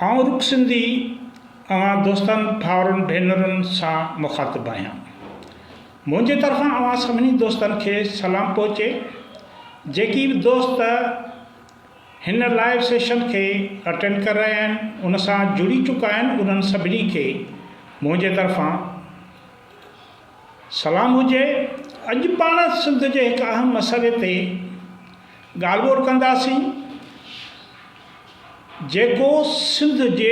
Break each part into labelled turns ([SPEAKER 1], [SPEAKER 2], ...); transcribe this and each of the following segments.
[SPEAKER 1] آئون رڳ سنڌي اوهان دوستن، ڀائرن، ڀينرن سان مخاطب آهيان. منهنجي طرفان اوهان سڀني دوستن کي سلام پهچي. جيڪي به دوست هن لائيو سيشن کي اٽينڊ ڪري رهيا آهن ان سان جڙي چڪا آهن انهن سڀني کي منهنجي طرفان سلام هجي، اڄ پاڻ سنڌ جي هڪ اهم مسئلي تي ڳالهه ٻولهه ڪنداسين جيڪو سنڌ جي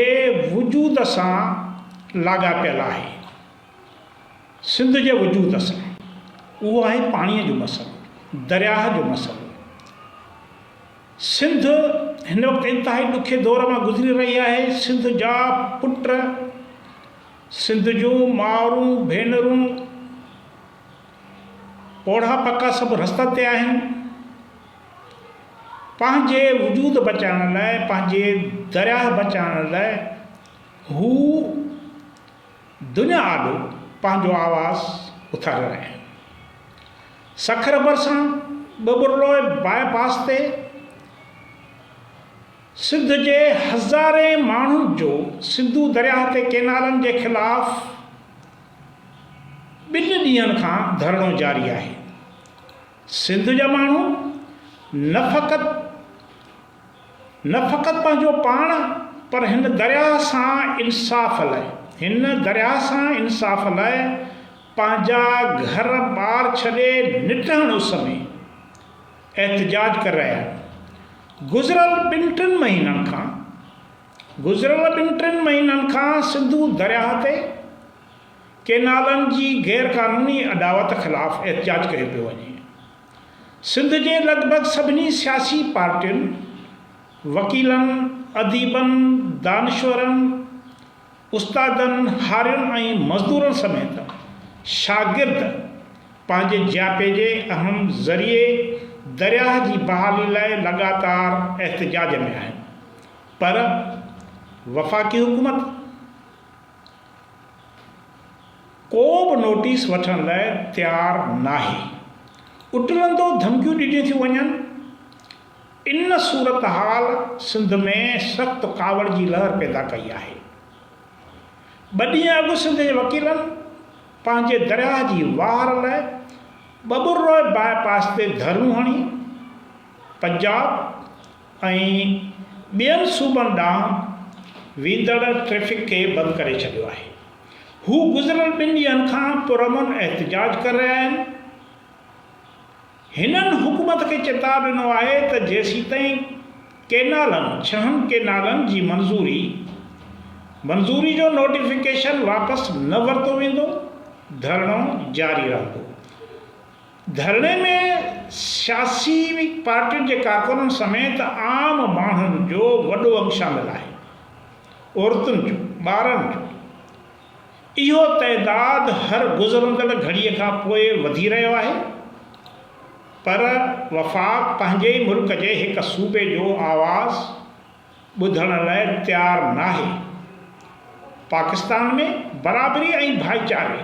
[SPEAKER 1] وجود سان لاڳاپيل آهي سنڌ جي وجود سان اهو آهي پاڻي جو مسئلو درياهه جو مسئلو سنڌ هن وقت انتهائي ڏکي دور مان گذري رهي آهي سنڌ جا پٽ سنڌ جون مائرون ڀينرون پوڙها پڪا سڀ رستن تي آهن پنهنجي وجود بچائڻ لاء پنهنجي درياهه بچائڻ لاء هو دنيا آڏو پنهنجو آواز اٿاري رهيا آهن سکر ڀرسان ٻٻرلوء باء پاس تي سنڌ جي هزارين ماڻهن جو سنڌو درياهه تي ڪينالن جي خلاف ٻن ڏينهن کان ڌرڻو جاري آهي، سنڌ جا ماڻهو نه فقط نه فقط پنهنجو پاڻ پر هن درياهه سان انصاف لاء هن درياهه سان انصاف لاء پنهنجا گهر ٻار ڇڏي نٽهڻ اس ۾ احتجاج ڪري رهيا آهن گذريل ٻن ٽن مهينن کان گذريل ٻن ٽن مهينن کان سنڌو درياهه تي ڪينالن جي غير قانوني اڏاوت خلاف احتجاج ڪيو پيو وڃي سنڌ جي لڳ ڀڳ سڀني سياسي پارٽين وڪيلن اديبن دانشورن استادن، هارين ۽ مزدورن سميت شاگرد پنهنجي جياپي جي اهم ذريعي درياهه جي بحالي لاء لڳاتار احتجاج ۾ آهن پر وفاقي حڪومت ڪو به نوٽيس وٺڻ لاء تيار ناهي اٽلندو ڌمڪيون ڏنيون ٿيون وڃن. ان صورتحال سنڌ ۾ سخت ڪاوڙ جي لهر پيدا ڪئي آهي. ٻه ڏينهن اڳ سنڌ جي وڪيلن پنهنجي درياهه جي واهر لئه ٻٻروء باء پاس تي ڌرڻو هڻي پنجاب ۽ ٻين صوبن ڏانهن ويندڙ ٽريفڪ کي بند ڪري ڇڏيو آهي. هو گذريل ٻن ڏينهن کان پرامن احتجاج ڪري رهيا آهن. هنن حڪومت کي چتاء ڏنو آهي ته جيسيتائين ڪينالن، ڇهن ڪينالن، جي منظوري منظوري جو نوٽيفڪيشن واپس نه ورتو ويندو، ڌرڻو جاري رهندو. ڌرڻي ۾ سياسي پارٽين جي ڪارڪنن سميت عام ماڻهن جو وڏو انگ شامل آهي. عورتن جو، ٻارن جو. اهو تعداد هر گذرندڙ گهڙيء کان پوء وڌي رهيو آهي پر وفاق پنهنجي ئي ملڪ جي هڪ صوبي جو آواز ٻڌڻ لاء تيار ناهي. پاڪستان ۾ برابري ۽ ڀائيچاري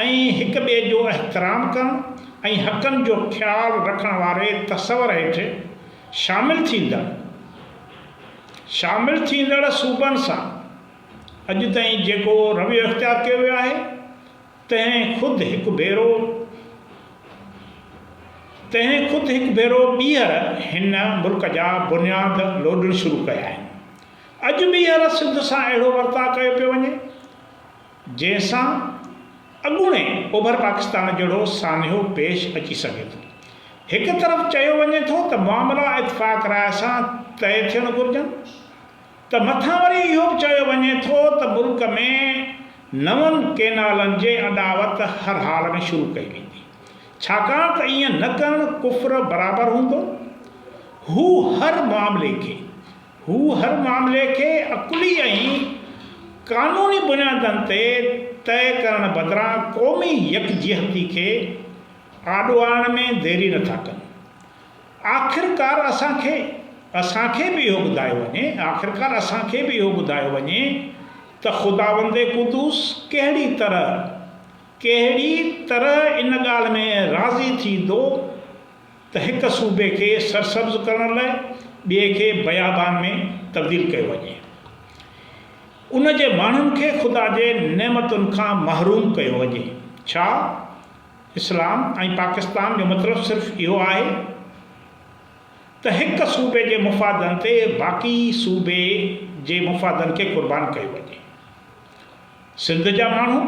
[SPEAKER 1] ۽ هڪ ٻئي جو احترام ڪرڻ ۽ حقن جو خيال رکڻ واري تصور هيٺ شامل ٿيندڙ شامل ٿيندڙ صوبن سان اڄ تائين جيڪو رويو اختيار ڪيو ويو آهي، تنهن خود هڪ ڀيرو تنهن خود هڪ ڀيرو ٻيهر هن ملڪ جا بنياد لوڏڻ شروع ڪيا آهن. اڄ ٻيهر سنڌ سان اهڙو ورتاء ڪيو پيو وڃي، جنهن سان اڳوڻي اوڀر پاڪستان جهڙو سانحو پيش اچي سگهي ٿو. هڪ طرف چيو وڃي ٿو ته معاملا اتفاق راء سان طئي ٿيڻ گهرجن، ته مٿان وري اهو به چيو وڃي ٿو ته ملڪ ۾ نون ڪينالن جي اڏاوت هر حال ۾ شروع ڪئي ويندي ڇاڪاڻ ته ائين نه ڪرڻ ڪفر برابر هوندو هو هر معاملي کي هو هر معاملي کي عقلي ۽ قانوني بنيادن تي طئي ڪرڻ بدران قومي يڪجهتي کي آڏو آڻڻ ۾ ديري نه ٿا ڪن. آخرڪار اسان کي اسان کي به اهو ٻڌايو وڃي آخرڪار اسان کي به اهو ٻڌايو وڃي ته خداوند قدوس ڪهڙي طرح ڪهڙي طرح ان ڳالهه ۾ راضي ٿيندو ته هڪ صوبي کي سرسبز ڪرڻ لاء ٻئي کي بيابان ۾ تبديل ڪيو وڃي ان جي ماڻهن کي خدا جي نعمتن کان محروم ڪيو وڃي ڇا اسلام ۽ پاڪستان جو مطلب صرف اهو آهي ته هڪ صوبي جي مفادن تي باقي صوبي جي مفادن کي قربان ڪيو وڃي. سنڌ جا ماڻهو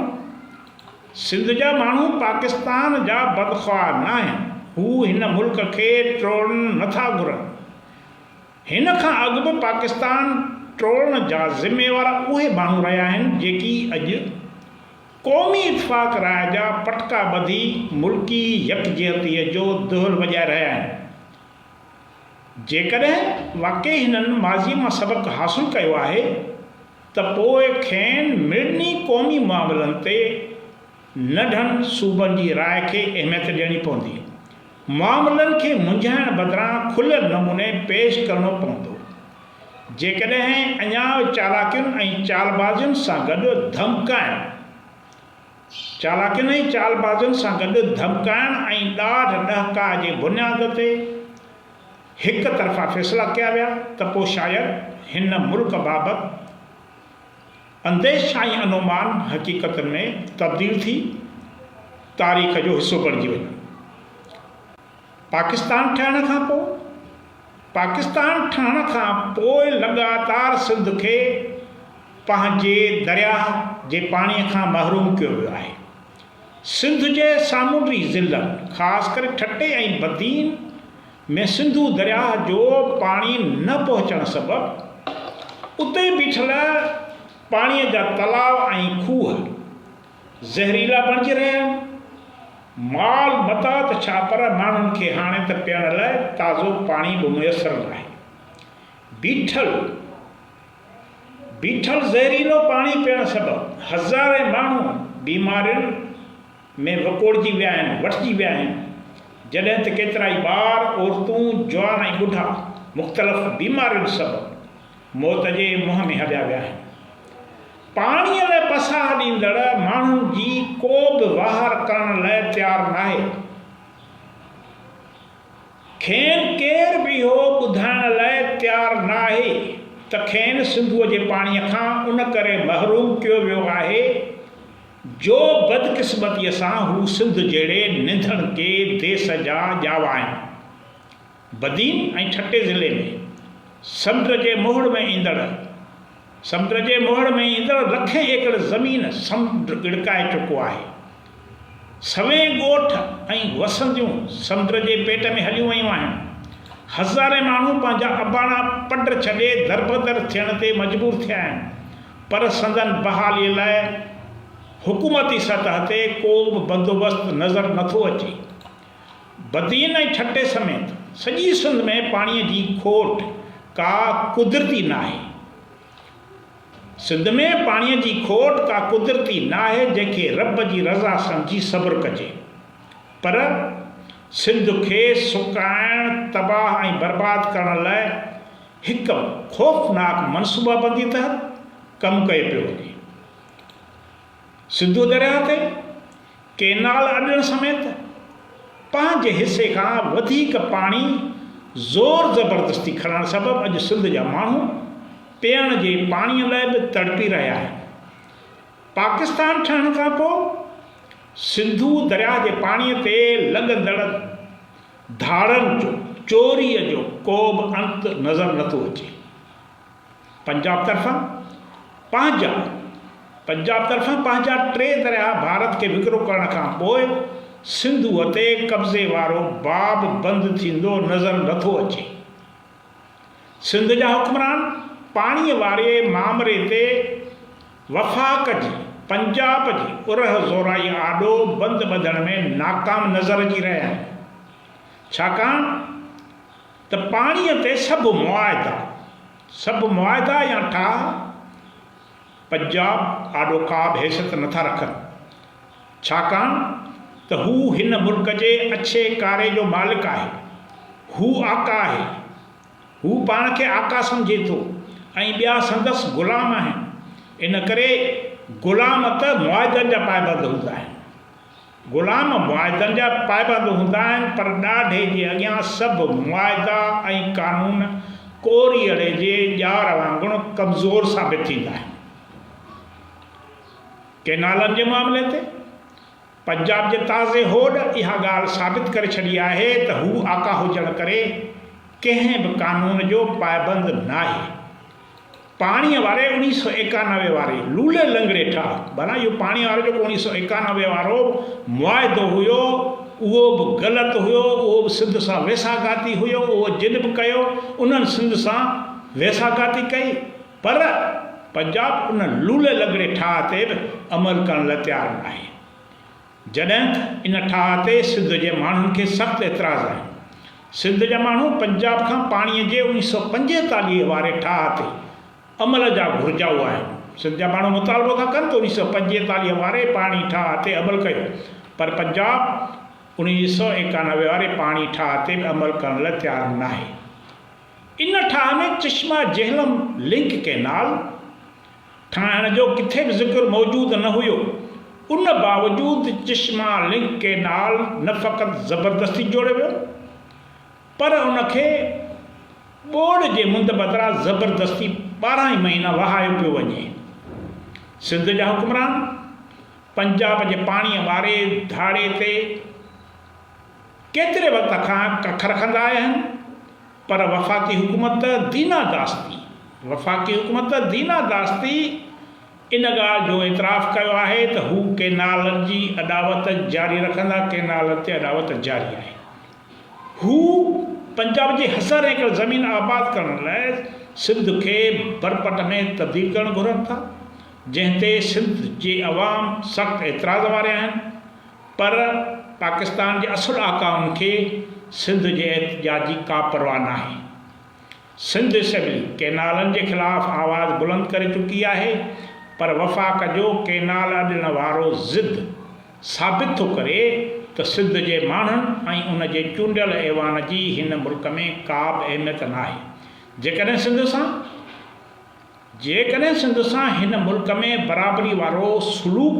[SPEAKER 1] سنڌ جا ماڻهو پاڪستان جا بدخواهه ناهن. هو هن ملڪ کي ٽوڙڻ نٿا گهرن. هن کان اڳ به پاڪستان ٽوڙڻ جا ذميوار اهي ماڻهو رهيا آهن جيڪي اڄ قومي اتفاق راء جا پٽڪا ٻڌي ملڪي يڪجهتيء جو دهل وڄائي رهيا آهن. جيڪڏهن واقعي هنن ماضيء مان سبق حاصل ڪيو آهي ته پوء کين مڙني قومي معاملن تي ننڍن صوبن جي راء کي اهميت ڏيڻي پوندي. معاملن کي منجهائڻ بدران کليل نموني پيش ڪرڻو پوندو. جيڪڏهن اڃا چالاڪين ۽ چالبازين سان گڏ ڌمڪائڻ، چالاڪين ۽ چالبازين سان گڏ ڌمڪائڻ ۽ ڏاڍ ڏهڪاء جي بنياد تي هڪ طرفا فيصلا ڪيا ويا ته پوء شايد هن ملڪ بابت انديشا ۽ انومان حقيقتن ۾ تبديل ٿي تاريخ جو حصو بڻجي وڃن. پاڪستان ٺهڻ کان پوء، پاڪستان ٺهڻ کان پوء لڳاتار سنڌ کي پنهنجي درياهه جي پاڻي کان محروم ڪيو ويو آهي. سنڌ جي سامونڊي ضلعن خاص ڪري ٺٽي ۽ بدين ۾ سنڌو درياهه جو پاڻي نه پهچڻ سبب اتي بيٺل پاڻي جا تلاء ۽ کوهه زهريلا بڻجي رهيا آهن. مال متاع ته ڇا پر ماڻهن کي هاڻي ته پيئڻ لاء تازو پاڻي به ميسر ناهي. بيٺل بيٺل زهريلو پاڻي پيئڻ سبب هزارين ماڻهو بيمارين ۾ وڪوڙجي ويا آهن، وٺجي ويا آهن، جڏهن ته ڪيترائي ٻار، عورتون، جوان ۽ ٻڍا مختلف بيمارين سبب موت جي منهن ۾ هليا ويا آهن. پاڻيء ۾ پساهه ڏيندڙ ماڻهن جي ڪو به واهر ڪرڻ لاء تيار ناهي. کين ڪير به اهو ٻڌائڻ لاء تيار ناهي ته کين سنڌوء جي پاڻيء کان ان ڪري محروم ڪيو ويو آهي جو بدقسمتيء سان هو سنڌ جهڙي ننڌڻڪي ديس جا ڄاوا آهن. بدين ۽ ٺٽي ضلعي ۾ سمنڊ جي موهڙ ۾ ايندڙ سمنڊ جي موهڙ ۾ ايندڙ لکين ايڪڙ زمين سمنڊ ڳڙڪائي چڪو آهي. سوين ڳوٺ ۽ وسنديون سمنڊ جي پيٽ ۾ هليون ويون آهن. هزارين ماڻهو پنهنجا اباڻا پڊ ڇڏي دربدر ٿيڻ تي مجبور ٿيا آهن پر سندن بحالي لاء حڪومتي سطح تي ڪو به بندوبست نظر نٿو اچي. بدين ۽ ٺٽي سميت سڄي سنڌ ۾ پاڻي جي کوٽ ڪا قدرتي ناهي. سنڌ ۾ پاڻي جي کوٽ ڪا قدرتي ناهي جنهن کي رب جي رضا سمجهي صبر ڪجي پر سنڌ کي سڪائڻ تباهه ۽ برباد ڪرڻ لاء هڪ خوفناڪ منصوبابندي تحت ڪم ڪيو پيو وڃي. سنڌو درياهه تي ڪئنال اڏڻ سميت پنهنجي حصي کان وڌيڪ پاڻي زور زبردستي کڻڻ سبب اڄ سنڌ جا ماڻهو پيئڻ جي پاڻي لاء به تڙپي رهيا آهن. پاڪستان ٺهڻ کان پوء سنڌو درياهه جي پاڻي تي لڳندڙ ڌاڙن جو، چوري جو ڪو به انت نظر نٿو اچي. پنجاب طرفان پنهنجا پنجاب طرفان پنهنجا ٽي درياهه ڀارت کي وڪرو ڪرڻ کان پوء سنڌوء تي قبضي وارو باب بند ٿيندو نظر نه ٿو اچي. سنڌ جا حڪمران پاڻيء واري مامري تي وفاق جي پنجاب جي ارهه زورائي آڏو بند ٻڌڻ ۾ ناڪام نظر اچي رهيا آهن. ڇاڪاڻ ته پاڻيء تي سڀ معاهدا، سڀ معاهدا يا ٺاهه پنجاب آڏو ڪابه حيثيت نٿا رکن، ڇاڪاڻ ته هو هن ملڪ جي اڇي ڪاري جو مالڪ آهي، هو آقا آهي، هو پاڻ کي آقا سمجهي ٿو ۽ ٻيا سندس غلام آهن، ان ڪري غلام ته معاهدن جا پائبند هوندا آهن. غلام معاهدن جا پائبند هوندا آهن پر ڏاڍي جي اڳيان سڀ معاهدا ۽ قانون ڪوريئڙي جي ڄار وانگڻ ڪمزور ثابت ٿيندا آهن. ڪئنالن جي معاملي تي پنجاب جي تازي هوڏ اها ڳالهه ثابت ڪري ڇڏي آهي ته هو آقا هجڻ ڪري ڪنهن به قانون جو پائبند ناهي. پاڻيء واري اوڻيهه سؤ ايڪانوي واري لولي لنگڙي ٺاهه ڀلا اهو پاڻيء وارو جيڪو اوڻيهه سؤ ايڪانوي وارو معاهدو هيو اهو به غلط هيو اهو به سنڌ سان ويساهگاتي هيو اهو جن به ڪيو انهن سنڌ سان ويساهگاتي ڪئي پر پنجاب ان لولي لنگڙي ٺاهه تي به عمل ڪرڻ لاء تيار ناهي. جڏهن ته ان ٺاهه تي سنڌ جي ماڻهن کي سخت اعتراض آهي. سنڌ جا ماڻهو پنجاب کان پاڻي جي اوڻي سؤ پنجيتاليهه واري ٺاهه تي عمل جا گهرجائو آهن. سنڌ جا ماڻهو مطالبو ٿا ڪن ته اوڻي سؤ پنجيتاليهه واري پاڻي ٺاهه تي عمل ڪيو پر پنجاب اوڻي سؤ ايڪانوي واري پاڻي ٺاهه تي به عمل ڪرڻ لاء تيار ناهي. ان ٺاهه ۾ چشمه جهلم لنڪ ڪئنال، ٺاهڻ جو ڪٿي به ذڪر موجود نه هيو، ان باوجود چشما لنڪ ڪينال نه فقط زبردستي جوڙيو ويو پر ان کي ٻوڏ جي مند بدران زبردستي ٻارهن ئي مهينا وهايو پيو وڃي. سنڌ جا حڪمران پنجاب جي پاڻيء واري ڌاڙي تي ڪيتري وقت کان ڪک رکندا آيا آهن، پر وفاقي حڪومت ته دينا داستي وفاقي حڪومت ته دينا داستي ان ڳالهه جو اعتراف ڪيو آهي ته هو ڪينالن جي اڏاوت جاري رکندا ڪينالن تي اڏاوت جاري آهي هو پنجاب جي هزارين ايڪڙ زمين آباد ڪرڻ لاء سنڌ کي برپٽ ۾ تبديل ڪرڻ گهرن ٿا جنهن تي سنڌ جي عوام سخت اعتراض واري آهن پر پاڪستان جي اصل آقائن کي سنڌ جي احتجاج جي ڪا پرواهه ناهي. سنڌ اسيمبلي ڪئنالن جي خلاف آواز بلند ڪري چڪي آهي پر وفاق جو ڪئنال اڏڻ وارو ضد ثابت ٿو ڪري ته سنڌ جي ماڻهن ۽ ان جي چونڊيل ايوان جي هن ملڪ ۾ ڪابه اهميت ناهي جيڪڏهن سنڌ سان جيڪڏهن سنڌ سان هن ملڪ ۾ برابري وارو سلوڪ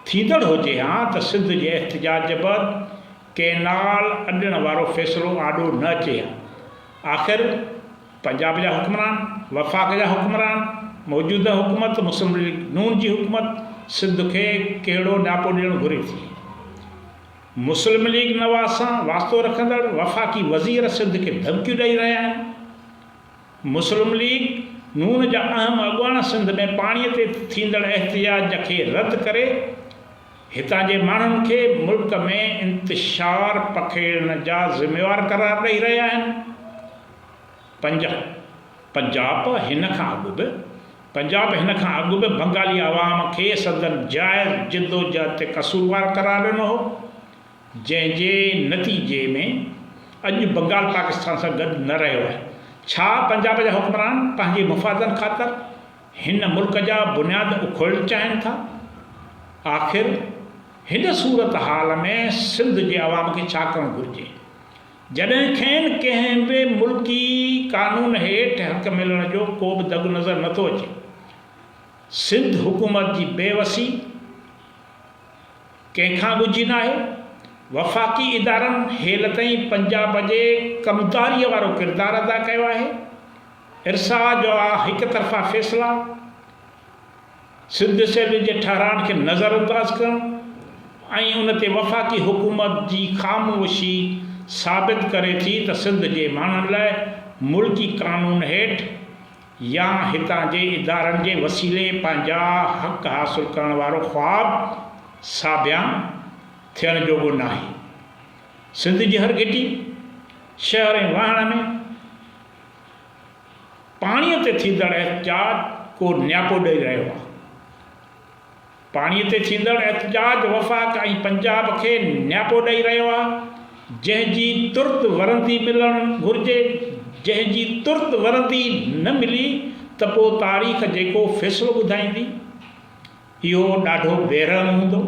[SPEAKER 1] ٿيندڙ هجي ها ته سنڌ جي احتجاج بعد ڪئنال اڏڻ وارو فيصلو آڏو نه اچي ها. آخر پنجاب جا حڪمران، وفاق جا حڪمران، موجوده حڪومت مسلم ليگ نون جي حڪومت سنڌ کي ڪهڙو ڏاپو ڏيڻ گهري ٿي. مسلم ليگ نواز سان واسطو رکندڙ وفاقي وزير سنڌ کي ڌمڪيون ڏئي رهيا آهن. مسلم ليگ نون جا اهم اڳواڻ سنڌ ۾ پاڻي تي ٿيندڙ احتجاج کي رد ڪري هتان جي ماڻهن کي ملڪ ۾ انتشار پکيڙڻ جا ذميوار قرار ڏئي رهيا آهن. پنجاب پنجاب هن کان اڳ به پنجاب هن کان اڳ به بنگالي عوام کي سندن جائز جدوجهد تي قصوروار قرار ڏنو هو. جنهن جي نتيجي ۾ اڄ بنگال پاڪستان سان گڏ نه رهيو آهي. ڇا پنجاب جا حڪمران پنهنجي مفادن خاطر هن ملڪ جا بنياد اکوڙيل چاهين ٿا؟ آخر هن صورتحال ۾ سنڌ جي عوام کي ڇا ڪرڻ گهرجي؟ جڏهن کين ڪنهن به ملڪي قانون هيٺ حق ملڻ جو ڪوبه دڳ نظر نٿو اچي. سنڌ حڪومت جي بي وسي، ڪنهن کان ڳجهي ناهي، وفاقي ادارن هيل تائين پنجاب جي ڪمتاريء وارو ڪردار ادا ڪيو آهي، ارساء جو آ هڪ طرفا فيصلا، سنڌ اسيمبلي جي ٺهرائن کي نظر انداز ڪرڻ ۽ ان تي وفاقي حڪومت جي خاموشي ثابت ڪري ٿي ته سنڌ جي ماڻهن لاء ملڪي قانون هيٺ يا هتان جي ادارن جي وسيلي پنهنجا حق حاصل ڪرڻ وارو خواب ساڀيان ٿيڻ جوڳو ناهي. سنڌ جي هر گهٽي، شهر ۽ واهڻ ۾ پاڻيء تي ٿيندڙ احتجاج ڪو نياپو ڏئي رهيو آهي. پاڻي تي ٿيندڙ احتجاج وفاق ۽ پنجاب کي نياپو ڏئي رهيو آهي، جنهن جي ترت ورندي ملڻ گهرجي، جنهن جي ترت ورندي نه ملي ته پوء تاريخ جيڪو فيصلو ٻڌائيندي، اهو ڏاڍو بيرحم هوندو.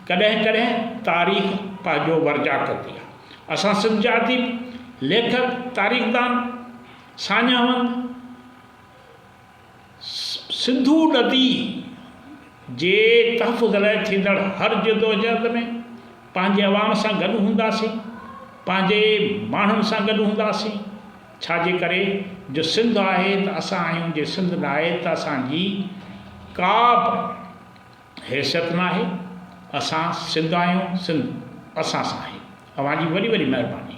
[SPEAKER 1] ڪڏهن ڪڏهن تاريخ پنهنجو ورجاء ڪندي آهي. اسان سنڌ جا اديب، ليکڪ، تاريخدان، ساڃاهوند، سنڌو ندي جي تحفظ لاء ٿيندڙ هر جدوجهد ۾ پنهنجي عوام سان گڏ هونداسين، پنهنجي ماڻهن سان گڏ هونداسين، ڇا جي ڪري جو سنڌ آهي ته اسان آهيون جي سنڌ ناهي ته اسان جي ڪا به حيثيت ناهي، اسان سنڌ آهيون سنڌ اسان سان آهي، اوهان جي وڏي وڏي مهرباني.